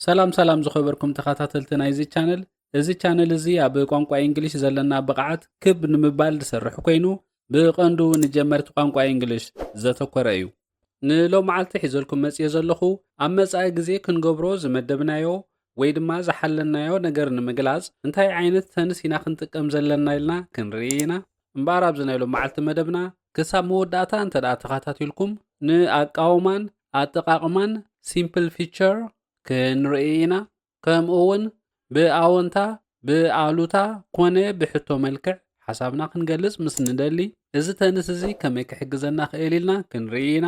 ሰላም ሰላም ዝኸበርኩም ተኸታተልቲ ናይዚ ቻነል እዚ ቻነል እዚ ኣብ ቋንቋ እንግሊሽ ዘለና ብቕዓት ክብ ንምባል ዝሰርሕ ኮይኑ ብቐንዱ ንጀመርቲ ቋንቋ እንግሊሽ ዘተኮረ እዩ ንሎም መዓልቲ ሒዘልኩም መፅዮ ዘለኹ ኣብ መፃኢ ግዜ ክንገብሮ ዝመደብናዮ ወይ ድማ ዝሓለናዮ ነገር ንምግላፅ እንታይ ዓይነት ተንስ ኢና ክንጥቀም ዘለና ኢልና ክንርኢ ኢና እምበኣር ኣብዚ ናይ ሎምዓልቲ መደብና ክሳብ መወዳእታ እንተድኣ ተኻታቲልኩም ንኣቃውማን ኣጠቓቕማን ሲምፕል ፊቸር ክንርኢ ኢና። ከምኡውን ብኣወንታ ብኣሉታ ኮነ ብሕቶ መልክዕ ሓሳብና ክንገልጽ ምስ ንደሊ እዚ ተንስ እዚ ከመይ ክሕግዘና ክእል ኢልና ክንርኢ ኢና።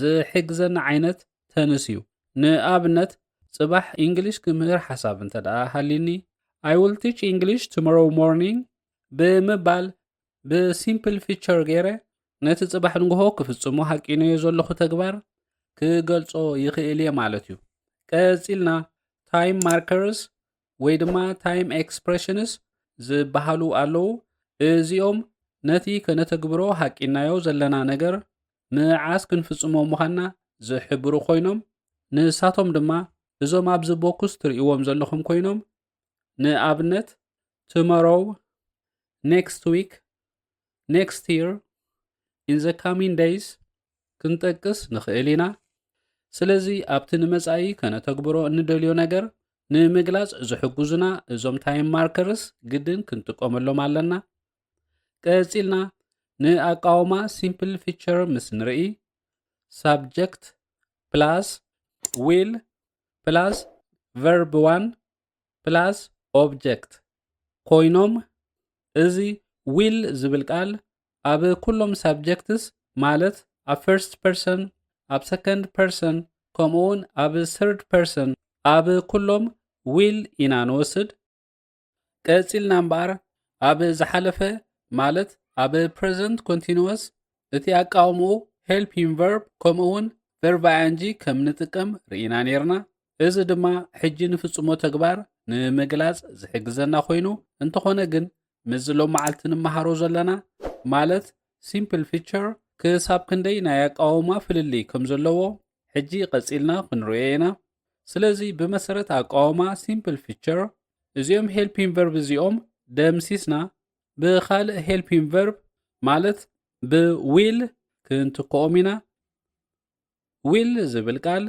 ዝሕግዘና ዓይነት ተንስ እዩ። ንኣብነት ጽባሕ ኢንግሊሽ ክምህር ሓሳብ እንተ ደኣ ሃልዩኒ I will teach English tomorrow morning ብምባል ብሲምፕል ፊቸር ገይረ ነቲ ጽባሕ ንግሆ ክፍጽሞ ሃቂነዮ ዘለኹ ተግባር ክገልጾ ይኽእል እየ ማለት እዩ። ቀጺልና ታይም ማርከርስ ወይ ድማ ታይም ኤክስፕሬሽንስ ዝበሃሉ ኣለዉ። እዚኦም ነቲ ከነተግብሮ ሃቂናዮ ዘለና ነገር መዓስ ክንፍጽሞ ምዃንና ዝሕብሩ ኮይኖም ንሳቶም ድማ እዞም ኣብዚ ቦክስ ትርእይዎም ዘለኹም ኮይኖም ንኣብነት ቱመሮው ኔክስት ዊክ ኔክስት ይር ኢን ዘ ካሚን ደይስ ክንጠቅስ ንኽእል ኢና ስለዚ ኣብቲ ንመጻኢ ከነተግብሮ እንደልዮ ነገር ንምግላጽ ዝሕግዙና እዞም ታይም ማርከርስ ግድን ክንጥቀመሎም ኣለና ቀጺልና ንኣቃውማ ሲምፕል ፊቸር ምስ ንርኢ ሳብጀክት ፕላስ ዊል ፕላስ ቨርብ ዋን ፕላስ ኦብጀክት ኮይኖም እዚ ዊል ዝብል ቃል ኣብ ኩሎም ሳብጀክትስ ማለት ኣብ ፈርስት ፐርሰን ኣብ ሰከንድ ፐርሰን ከምኡውን ኣብ ስርድ ፐርሰን ኣብ ኩሎም ዊል ኢና ንወስድ ቀጺልና እምበኣር ኣብ ዝሓለፈ ማለት ኣብ ፕሬዘንት ኮንቲኒወስ እቲ ኣቃውምኡ ሄልፒንግ ቨርብ ከምኡ እውን ቨርብ ኣያንጂ ከም ንጥቀም ርኢና ነርና። እዚ ድማ ሕጂ ንፍጽሞ ተግባር ንምግላጽ ዝሕግዘና ኮይኑ እንተኾነ ግን ምስዚ ሎም መዓልቲ ንመሃሮ ዘለና ማለት ሲምፕል ፊቸር ክሳብ ክንደይ ናይ ኣቃውማ ፍልልይ ከም ዘለዎ ሕጂ ቀጺልና ክንርእዮ ኢና። ስለዚ ብመሰረት ኣቃውማ ሲምፕል ፊቸር እዚኦም ሄልፒን ቨርብ እዚኦም ደምሲስና ብኻልእ ሄልፒን ቨርብ ማለት ብዊል ክንትክኦም ኢና ዊል ዝብል ቃል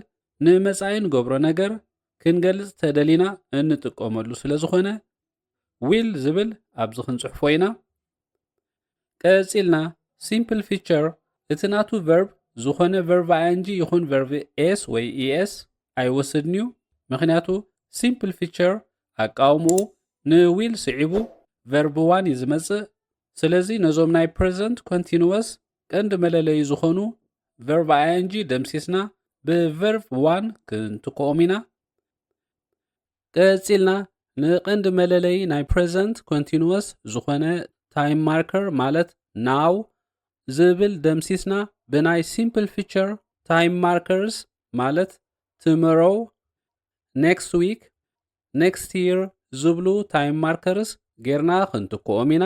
ንመጻኢ ንገብሮ ነገር ክንገልጽ ተደሊና እንጥቀመሉ ስለ ዝኾነ ዊል ዝብል ኣብዚ ክንጽሕፎ ኢና ቀጺልና ሲምፕል ፊቸር እቲ ናቱ ቨርብ ዝኾነ ቨርብ ኣንጂ ይኹን ቨርብ ኤስ ወይ ኢኤስ ኣይወስድን እዩ ምክንያቱ ሲምፕል ፊቸር ኣቃውምኡ ንዊል ስዒቡ ቨርብ ዋን እዩ ዝመጽእ ስለዚ ነዞም ናይ ፕሬዘንት ኮንቲኒወስ ቀንዲ መለለዩ ዝኾኑ ቨርብ ኣንጂ ደምሲስና ብቨርብ ዋን ክንትክኦም ኢና ቀጺልና ንቐንዲ መለለዪ ናይ ፕረዘንት ኮንቲኑወስ ዝኾነ ታይም ማርከር ማለት ናው ዝብል ደምሲስና ብናይ ሲምፕል ፊቸር ታይም ማርከርስ ማለት ትመሮው፣ ኔክስት ዊክ፣ ኔክስት ይር ዝብሉ ታይም ማርከርስ ጌርና ክንትክኦም ኢና።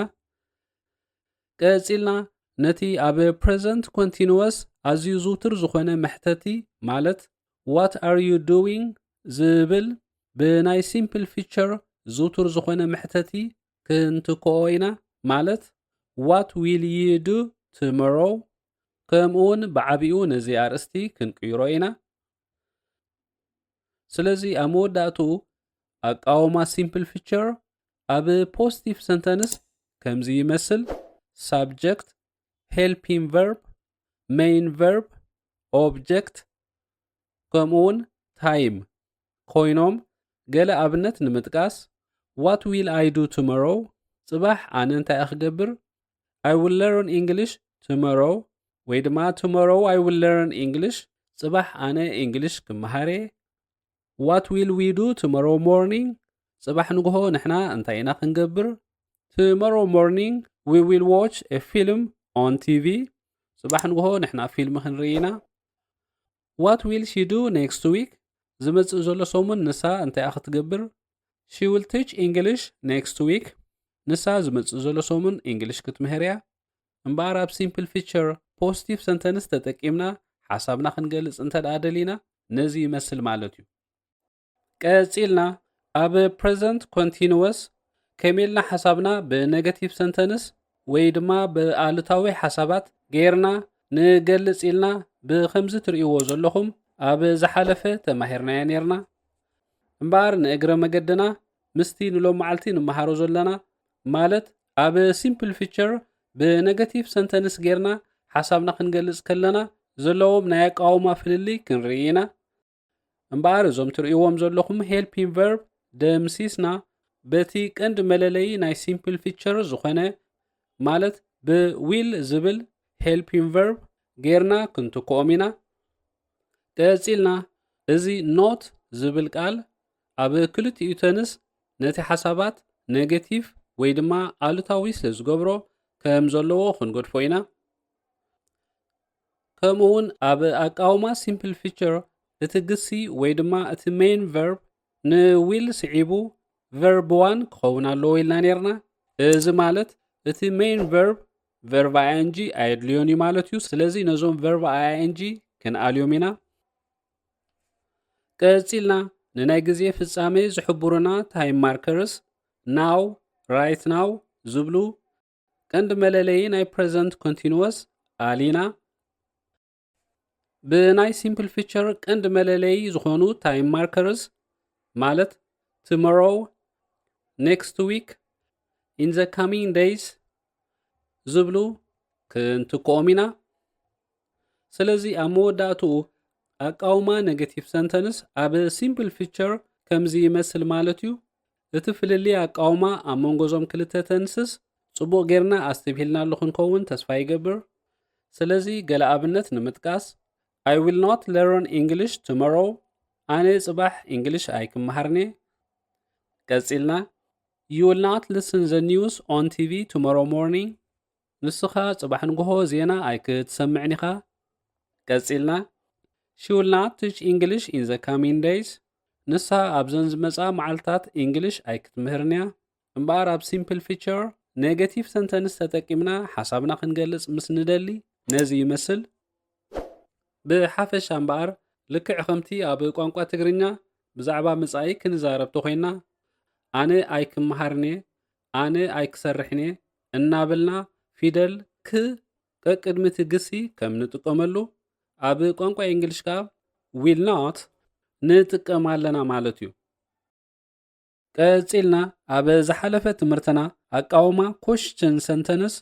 ቀጺልና ነቲ ኣብ ፕረዘንት ኮንቲኑወስ ኣዝዩ ዝውቱር ዝኾነ መሕተቲ ማለት ዋት ኣር ዩ ዱዊንግ ዝብል ብናይ ሲምፕል ፊቸር ዝውቱር ዝኾነ መሕተቲ ክንትክኦ ኢና፣ ማለት ዋት ዊል ዩ ዱ ቱሞሮው፣ ከምኡውን ብዓቢኡ ነዚ ኣርእስቲ ክንቅይሮ ኢና። ስለዚ ኣብ መወዳእትኡ ኣቃውማ ሲምፕል ፊቸር ኣብ ፖስቲቭ ሰንተንስ ከምዚ ይመስል፣ ሳብጀክት፣ ሄልፒን ቨርብ፣ መይን ቨርብ ኦብጀክት ከምኡውን ታይም ኮይኖም ገለ ኣብነት ንምጥቃስ ዋት ዊል ኣይ ዱ ቱመሮ ጽባሕ ኣነ እንታይ ክገብር ኣይ ዊል ለርን ኢንግሊሽ ቱመሮ ወይ ድማ ቱመሮ ኣይ ዊል ለርን ኢንግሊሽ ጽባሕ ኣነ ኢንግሊሽ ክመሃር እየ ዋት ዊል ዊ ዱ ቱሞሮው ሞርኒንግ ጽባሕ ንግሆ ንሕና እንታይ ኢና ክንገብር ቱሞሮው ሞርኒንግ ዊ ዊል ዎች ኤ ፊልም ኦን ቲቪ ጽባሕ ንግሆ ንሕና ፊልም ክንርኢ ኢና ዋት ዊል ሺ ዱ ኔክስት ዊክ ዝመጽእ ዘሎ ሰሙን ንሳ እንታይ ክትገብር ሺ ዊል ቲች ኢንግሊሽ ኔክስት ዊክ ንሳ ዝመጽእ ዘሎ ሰሙን ኢንግሊሽ ክትምህር እያ እምበኣር ኣብ ሲምፕል ፊቸር ፖስቲቭ ሰንተንስ ተጠቂምና ሓሳብና ክንገልጽ እንተ ደኣ ደሊና ነዚ ይመስል ማለት እዩ። ቀጺልና ኣብ ፕሬዘንት ኮንቲንወስ ከመይ ኢልና ሓሳብና ብነገቲቭ ሰንተንስ ወይ ድማ ብኣሉታዊ ሓሳባት ገይርና ንገልጽ ኢልና ብከምዚ ትርእይዎ ዘለኹም ኣብ ዝሓለፈ ተማሂርናዮ ነይርና። እምበኣር ንእግረ መገድና ምስቲ ንሎሚ መዓልቲ ንመሃሮ ዘለና ማለት ኣብ ሲምፕል ፊቸር ብነገቲቭ ሰንተንስ ጌርና ሓሳብና ክንገልጽ ከለና ዘለዎም ናይ ኣቃውማ ፍልልይ ክንርኢ ኢና። እምበኣር እዞም ትርእይዎም ዘለኹም ሄልፒን ቨርብ ደምሲስና በቲ ቀንዲ መለለዪ ናይ ሲምፕል ፊቸር ዝኾነ ማለት ብዊል ዝብል ሄልፒን ቨርብ ጌርና ክንትክኦም ኢና ቀጺልና እዚ ኖት ዝብል ቃል ኣብ ክልቲኡ ተንስ ነቲ ሓሳባት ነገቲቭ ወይ ድማ ኣሉታዊ ስለ ዝገብሮ ከም ዘለዎ ክንገድፎ ኢና። ከምኡ ውን ኣብ ኣቃውማ ሲምፕል ፊቸር እቲ ግሲ ወይ ድማ እቲ ሜይን ቨርብ ንዊል ስዒቡ ቨርብ ዋን ክኸውን ኣለዎ ኢልና ነርና። እዚ ማለት እቲ ሜይን ቨርብ ቨርብ ኣያንጂ ኣየድልዮን እዩ ማለት እዩ። ስለዚ ነዞም ቨርብ ኣያንጂ ክንኣልዮም ኢና። ቀጺልና ንናይ ግዜ ፍጻመ ዝሕብሩና ታይም ማርከርስ ናው ራይት ናው ዝብሉ ቀንዲ መለለዪ ናይ ፕሬዘንት ኮንቲኒወስ ኣሊና ብናይ ሲምፕል ፊቸር ቀንዲ መለለዪ ዝኾኑ ታይም ማርከርስ ማለት ትመሮው ኔክስት ዊክ ኢን ዘ ካሚንግ ደይስ ዝብሉ ክንትክኦም ኢና ስለዚ ኣብ መወዳእትኡ ኣቃውማ ኔጌቲቭ ሰንተንስ ኣብ ሲምፕል ፊቸር ከምዚ ይመስል ማለት እዩ። እቲ ፍልልይ ኣቃውማ ኣብ መንጎ እዞም ክልተ ተንስስ ጽቡቕ ጌርና ኣስተብሂልናሉ ክንከውን ተስፋ ይገብር። ስለዚ ገለ ኣብነት ንምጥቃስ፣ I will not learn English tomorrow ኣነ ጽባሕ እንግሊሽ ኣይክመሃርን'የ። ቀጺልና You will not listen the news on TV tomorrow morning ንስኻ ጽባሕ ንግሆ ዜና ኣይክትሰምዕን ኢኻ። ቀጺልና፣ She will not teach English in the coming days፣ ንሳ ኣብዘን ዝመጻ መዓልታት እንግሊሽ ኣይክትምህርን እያ። እምበኣር ኣብ ሲምፕል ፊቸር ኔገቲቭ ሰንተንስ ተጠቂምና ሓሳብና ክንገልጽ ምስ ንደሊ ነዚ ይመስል። ብሓፈሻ እምበኣር ልክዕ ከምቲ ኣብ ቋንቋ ትግርኛ ብዛዕባ መጻኢ ክንዛረብ ተኾይንና ኣነ ኣይክመሃርን እየ፣ ኣነ ኣይክሰርሕን'የ እናበልና ፊደል ክ ቀቅድሚ'ቲ ግሲ ከም ንጥቀመሉ፣ ኣብ ቋንቋ የእንግሊሽ ከኣ ዊል ኖት ንጥቀም ኣለና ማለት'ዩ። ቀጺልና ኣብ ዝሓለፈ ትምህርትና ኣቃውማ ኮሽችን ሰንተንስ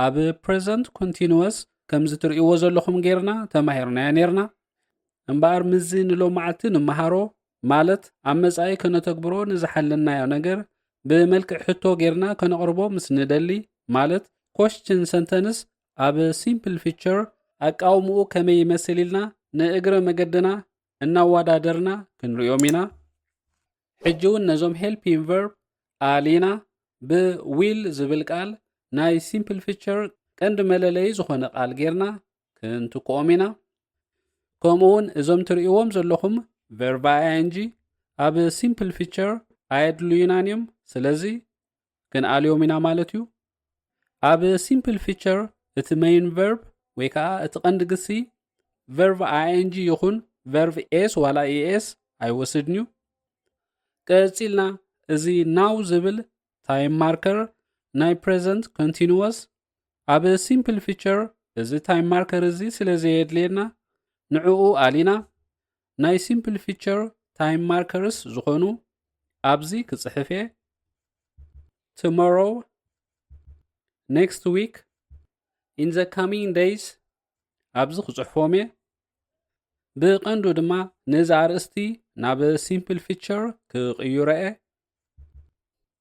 ኣብ ፕሬዘንት ኮንቲንወስ ከምዚ ትርእይዎ ዘለኹም ጌርና ተማሂርናዮ ኔርና እምበኣር ምዚ ንሎማዓልቲ ንመሃሮ ማለት ኣብ መጻኢ ከነተግብሮ ንዝሓለናዮ ነገር ብመልክዕ ሕቶ ጌርና ከነቕርቦ ምስ ንደሊ ማለት ኮስችን ሰንተንስ ኣብ ሲምፕል ፊቸር ኣቃውምኡ ከመይ ይመስል ኢልና ንእግረ መገድና እናወዳደርና ክንሪኦም ኢና ሕጂ እውን ነዞም ሄልፒን ቨርብ ኣሊና ብ ዊል ዝብል ቃል ናይ ሲምፕል ፊቸር ቀንዲ መለለዪ ዝኾነ ቃል ጌርና ክንትክኦም ኢና። ከምኡ እውን እዞም ትርእይዎም ዘለኹም ቨርብ ኣይ ኣይ ኤን ጂ ኣብ ሲምፕል ፊቸር ኣየድልዩናን እዮም። ስለዚ ክንኣልዮም ኢና ማለት እዩ ኣብ ሲምፕል ፊቸር እቲ መይን ቨርብ ወይ ከዓ እቲ ቀንዲ ግሲ ቨርቭ ኣንጂ ይኹን ቨርቭ ኤስ ዋላ ኤስ ኣይወስድን እዩ ቀፂልና እዚ ናው ዝብል ታይም ማርከር ናይ ፕሬዘንት ኮንቲኒወስ ኣብ ሲምፕል ፊቸር እዚ ታይም ማርከር እዚ ስለ ዘየድልየና ንዕኡ ኣሊና ናይ ሲምፕል ፊቸር ታይም ማርከርስ ዝኾኑ ኣብዚ ክጽሕፍ እየ ቶሞሮው ኔክስት ዊክ ኢን ዘ ካሚንግ ደይስ ኣብዚ ክጽሕፎም እየ ብቐንዱ ድማ ነዚ ኣርእስቲ ናብ ሲምፕል ፊቸር ክቕይሮ እየ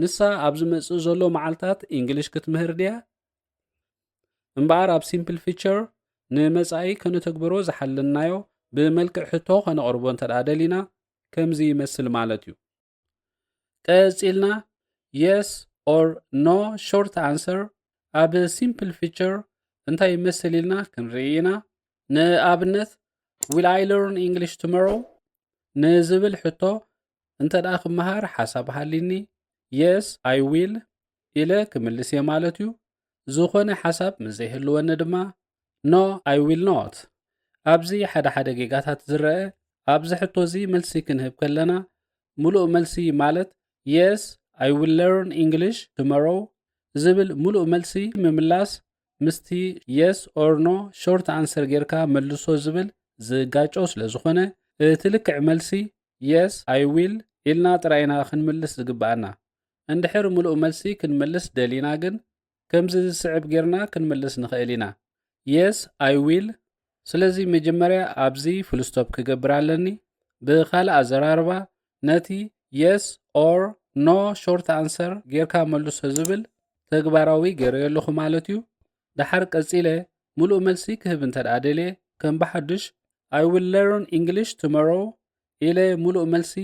ንሳ ኣብ ዝመጽእ ዘሎ መዓልታት እንግሊሽ ክትምህር ድያ? እምበኣር ኣብ ሲምፕል ፊቸር ንመጻኢ ከነተግበሮ ዝሓለናዮ ብመልክዕ ሕቶ ከነቕርቦ እንተ ደሊና ከምዚ ይመስል ማለት እዩ። ቀጺልና የስ ኦር ኖ ሾርት ኣንሰር ኣብ ሲምፕል ፊቸር እንታይ ይመስል ኢልና ክንርኢ ኢና። ንኣብነት ዊል ኣይ ለርን ኢንግሊሽ ቱመሮው ንዝብል ሕቶ እንተድኣ ክመሃር ሓሳብ ሃልይኒ Yes I will ኢለ ክምልስ እየ ማለት እዩ። ዝኾነ ሓሳብ ምስ ዘይህልወኒ ድማ No I will not። ኣብዚ ሓደ ሓደ ጌጋታት ዝረኣ ኣብ እዚ ሕቶ እዚ መልሲ ክንህብ ከለና ምሉእ መልሲ ማለት Yes I will learn English tomorrow ዝብል ምሉእ መልሲ ምምላስ ምስቲ የስ ኦር ኖ ሾርት ኣንሰር ጌርካ መልሶ ዝብል ዝጋጮ ስለ ዝኾነ እቲ ልክዕ መልሲ የስ ኣይ ዊል ኢልና ጥራይ ኢና ክንምልስ ዝግብኣና። እንድሕር ምሉእ መልሲ ክንምልስ ደሊና ግን ከምዚ ዝስዕብ ጌርና ክንምልስ ንኽእል ኢና፣ Yes I will። ስለዚ መጀመርያ ኣብዚ ፍሉስቶፕ ክገብር ኣለኒ። ብኻልእ ኣዘራርባ ነቲ የስ ኦር ኖ ሾርት ኣንሰር ጌርካ መልሶ ዝብል ተግባራዊ ገይረዮ ኣለኹ ማለት እዩ ደሓር ቀጺለ ምሉእ መልሲ ክህብ እንተ ደኣ ደልየ ከም ብሓድሽ ኣይ ዊል ለርን ኢንግሊሽ ቱሞሮ ኢለ ምሉእ መልሲ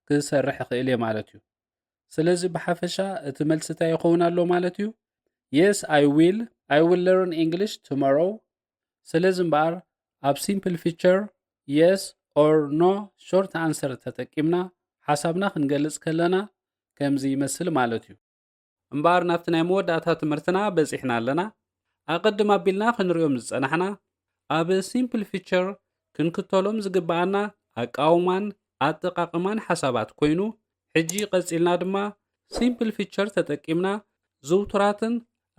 ክሰርሕ ይኽእል እየ ማለት እዩ ስለዚ ብሓፈሻ እቲ መልሲ እንታይ ይኸውን ኣሎ ማለት እዩ የስ ኣይ ዊል ኣይ ዊል ለርን ኢንግሊሽ ቱሞሮ ስለዚ እምበኣር ኣብ ሲምፕል ፊቸር የስ ኦር ኖ ሾርት ኣንሰር ተጠቂምና ሓሳብና ክንገልጽ ከለና ከምዚ ይመስል ማለት እዩ። እምበኣር ናብቲ ናይ መወዳእታ ትምህርትና በጺሕና ኣለና። ኣቐድም ኣቢልና ክንርእዮም ዝጸናሕና ኣብ ሲምፕል ፊቸር ክንክተሎም ዝግበኣና ኣቃውማን ኣጠቓቕማን ሓሳባት ኮይኑ ሕጂ ቀጺልና ድማ ሲምፕል ፊቸር ተጠቂምና ዝውቱራትን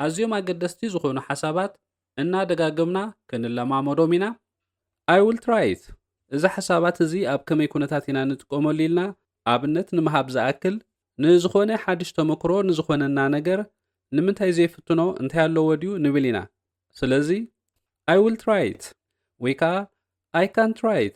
ኣዝዮም ኣገደስቲ ዝኾኑ ሓሳባት እናደጋገምና ክንለማመዶም ኢና። I will try it። እዚ ሓሳባት እዚ ኣብ ከመይ ኩነታት ኢና ንጥቀመሉ ኢልና ኣብነት ንምሃብ ዝኣክል፣ ንዝኾነ ሓድሽ ተመክሮ ንዝኾነና ነገር ንምንታይ ዘይፍትኖ እንታይ ኣለዎ ድዩ ንብል ኢና። ስለዚ I will try it ወይ ከኣ I can try it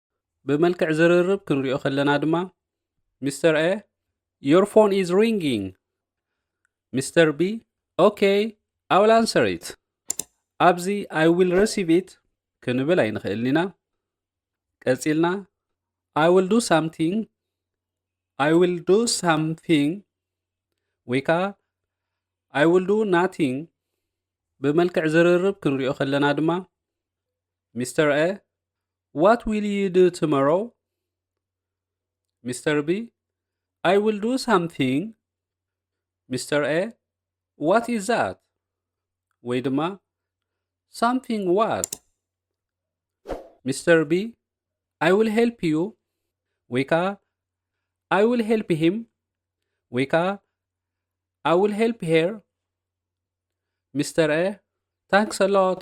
ብመልክዕ ዝርርብ ክንሪኦ ከለና ድማ ሚስተር ኤ ዮር ፎን ኢዝ ሪንጊንግ ሚስተር ቢ ኦኬ ኣይ ዊል ኣንሰር ኢት ኣብዚ ኣይ ዊል ረሲቭ ኢት ክንብል ኣይንኽእልን ኢና ቀጺልና ኣይ ዊል ዱ ሳምቲንግ ኣይ ዊል ዱ ሳምቲንግ ወይ ከዓ ኣይ ዊል ዱ ናቲንግ ብመልክዕ ዝርርብ ክንሪኦ ከለና ድማ ሚስተር ኤ ዋት ዊል ዩ ዱ ቱሞሮው ሚስተር ቢ ኣይ ዊል ዱ ሳምቲንግ ሚስተር ኤ ዋት ኢዝ ዛት ወይ ድማ ሳምቲንግ ዋት ሚስተር ቢ ኣይ ዊል ሄልፕ ዩ ወይ ከዓ ኣይ ዊል ሄልፕ ሂም ወይ ከዓ ኣይ ዊል ሄልፕ ሄር ሚስተር ኤ ታንክስ ኣሎት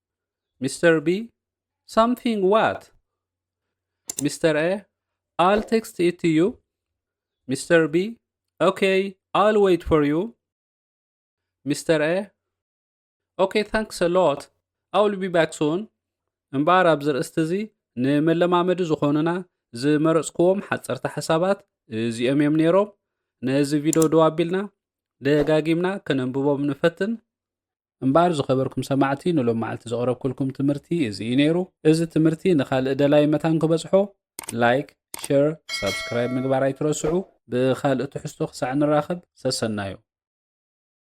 ሚስተር ቢ ሳምቲንግ ዋት ሚስተር ኤ ኣል ቴክስት ኢት ቱ ዩ ሚስተር ቢ ኦኬ ኣል ዌይት ፎር ዩ ሚስተር ኤ ኦኬ ታንክስ ኣሎት ኣውል ቢ ባክ ሱን እምበኣር ኣብዚ ርእስቲ እዚ ንመለማመዲ ዝኾኑና ዝመረጽክዎም ሓጸርቲ ሓሳባት እዚኦም እዮም ነይሮም ነዚ ቪድዮ ደው ኣቢልና ደጋጊምና ከነንብቦም ንፈትን እምበኣር ዝኸበርኩም ሰማዕቲ ንሎም መዓልቲ ዘቕረብኩልኩም ትምህርቲ እዚ እዩ ነይሩ። እዚ ትምህርቲ ንኻልእ ደላዪ መታን ክበጽሖ ላይክ፣ ሸር፣ ሳብስክራይብ ምግባር ኣይትረስዑ። ብኻልእ ትሕዝቶ ክሳዕ ንራኸብ ሰሰናዩ።